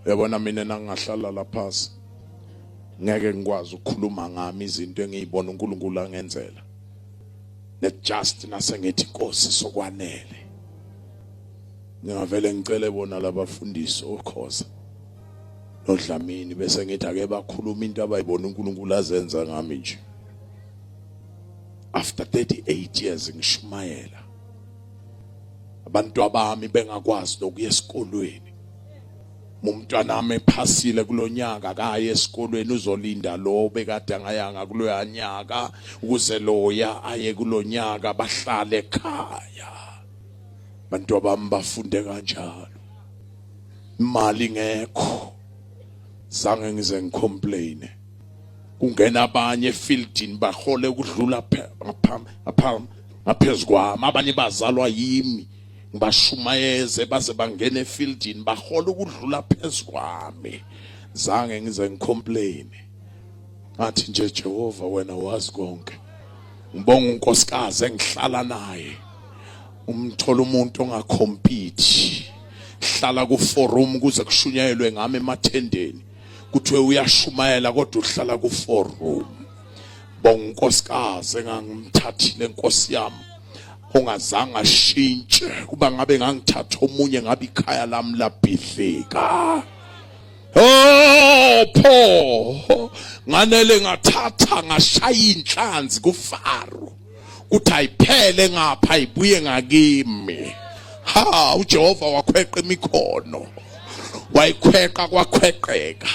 yabona mina nangingahlala laphasi ngeke ngikwazi ukukhuluma ngami izinto engiyibona uNkulunkulu angenzela ne just nasengithi inkosi sokwanele ngingavele ngicele bona labafundisi okhoza nodlamini bese ngithi ake bakhuluma into abayibona uNkulunkulu azenza ngami nje after 38 years ngishumayela abantu abami bengakwazi nokuya esikolweni umntwana nami ephasile kulonyaka akaye esikolweni uzolinda lo bekade angayanga kuloya nyaka ukuze loya aye kulonyaka bahlale ekhaya abantu abami bafunde kanjalo imali ngekho zange ngize ngicomplaine kungena abanye efieldini bahole ukudlula ngaphezu kwami abanye bazalwa yimi ngibashumayeze baze bangene efieldini bahole ukudlula phezu kwami zange ngize ngicomplain ngathi nje Jehova wena wazi konke ngibonga unkosikazi engihlala naye umthola umuntu ongakhompiti hlala ku forum kuze kushunyayelwe ngami emathendeni kuthiwe uyashumayela kodwa uhlala ku four room bonga unkosikazi engangimthathile nkosi yami ongazange ashintshe kuba ngabe ngangithatha omunye ngabe ikhaya lami labhidlika Oh pho nganele ngathatha ngashaya inhlanzi kufaro kuthi ayiphele ngapha ibuye ngakimi ha uJehova wakhweqa imikhono wayikhweqa kwakhweqeka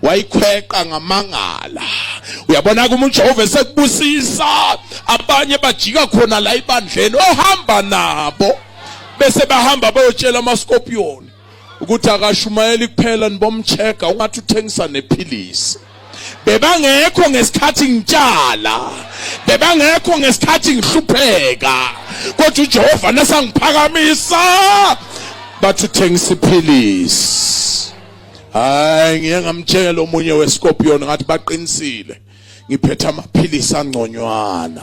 wayikhweqa ngamangala uyabona kuma uJehova esekubusisa abanye bajika khona la ibandleni ohamba nabo bese bahamba bayotshela amaskopiyoni ukuthi akashumayeli kuphela nibomcheka ungathi uthengisa nephilisi bebangekho ngesikhathi ngitshala bebangekho ngesikhathi ngihlupheka kodwa uJehova nasangiphakamisa bathi uthengisa iphilisi hayi ngiye ngamtshela omunye wescorpion ngathi baqinisile ngiphethe amaphilisi angconywana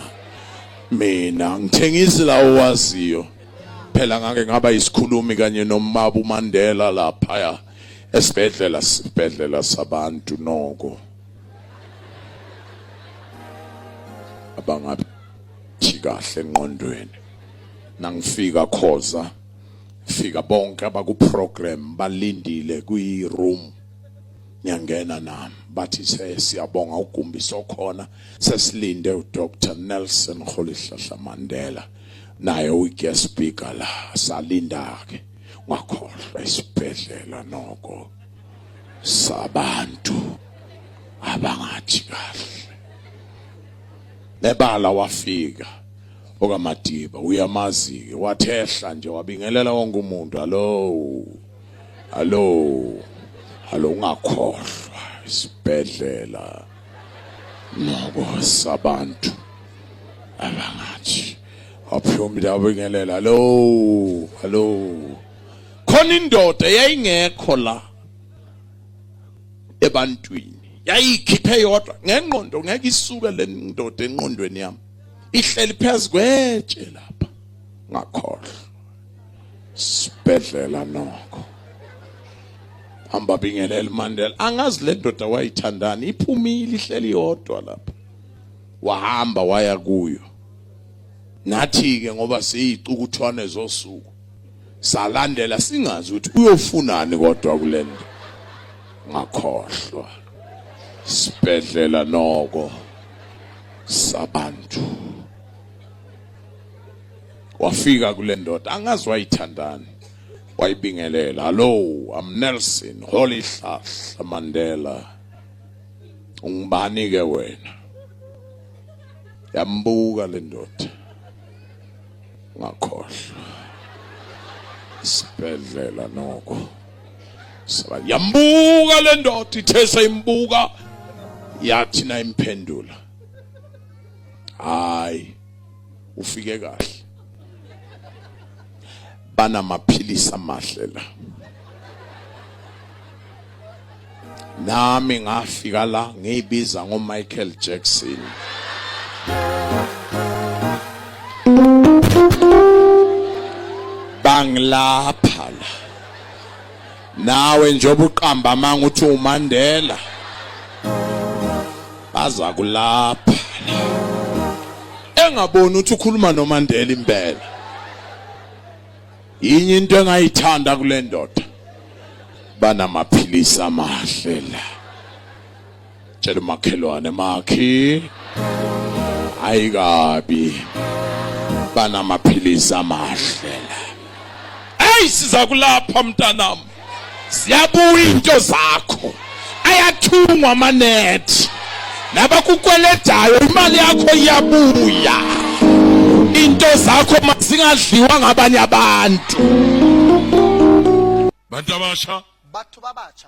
mina ngithengisi lawo waziyo phela ngake ngaba isikhulumi kanye nomama uMandela lapha esibhedlela sibhedlela sabantu noko abangabi kahle enqondweni nangifika khoza fika bonke abaku program balindile kwi room ngiyangena nami bathi siyabonga ugumbi sokhona sesilinde uDr Nelson Kholihlahla Mandela naye uguest speaker la salinda ke ngakhohlwa isibhedlela noko sabantu abangathi kahle nebala wafika okamadiba uyamazi ke wathehla nje wabingelela wonke umuntu hallo hallo hallo ungakhohlwa isibhedlela nokosa abantu abangathi aphuma ndabingelela lo hello khona indoda yayingekho la ebantwini yayikhiphe yodwa ngengqondo ngeke isuke le ndoda enqondweni yami ihleli phezu kwetshe lapha ngakhohlwa sibhedlela nokho hamba bingelela uMandela angazi le ndoda wayithandani iphumile ihleli yodwa lapha wahamba waya kuyo nathi ke ngoba siyicukuthwane zosuku salandela singazi ukuthi uyofunani kodwa kulento ngakhohlwa sibhedlela noko sabantu wafika kule ndoda angazi wayithandani wayibingelela hallo am nelson holy hlahla mandela ungubani-ke wena yambuka le ndoda ngakhohlwa isibhedlela noko yambuka le ndoda ithe sayimbuka yathi na imphendula hayi ufike kahle banamaphilisi amahle la nami ngafika la ngiyibiza ngoMichael Jackson bangilapha la nawe njengoba uqamba amanga uthi uMandela aza kulapha engaboni ukuthi ukhuluma noMandela impela yinye into engayithanda kule ndoda banamaphilisi amahle la Tshela umakhelwane makhi ayikabi banamaphilisi amahle hey siza kulapha mntanami ziyabuya into zakho ayathungwa amanethi nabakukweledayo imali yakho iyabuya into zakho mazingadliwa ngabanye abantu bantu abasha batho ba bacha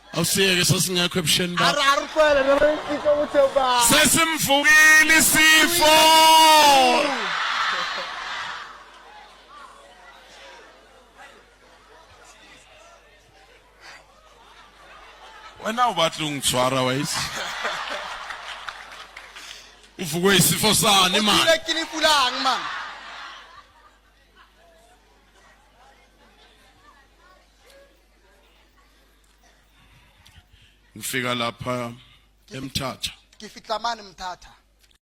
Awusiyeke sasingekho ebusheni bakho. Ara arufela noma isifo ukuthi uba. Sesimvukile isifo. Wena ubathi ungithwara wayisi. Uvukwe isifo sani manje? Uphile kilifu langi manje. ngifika lapha emthatha ngifitlamani mthatha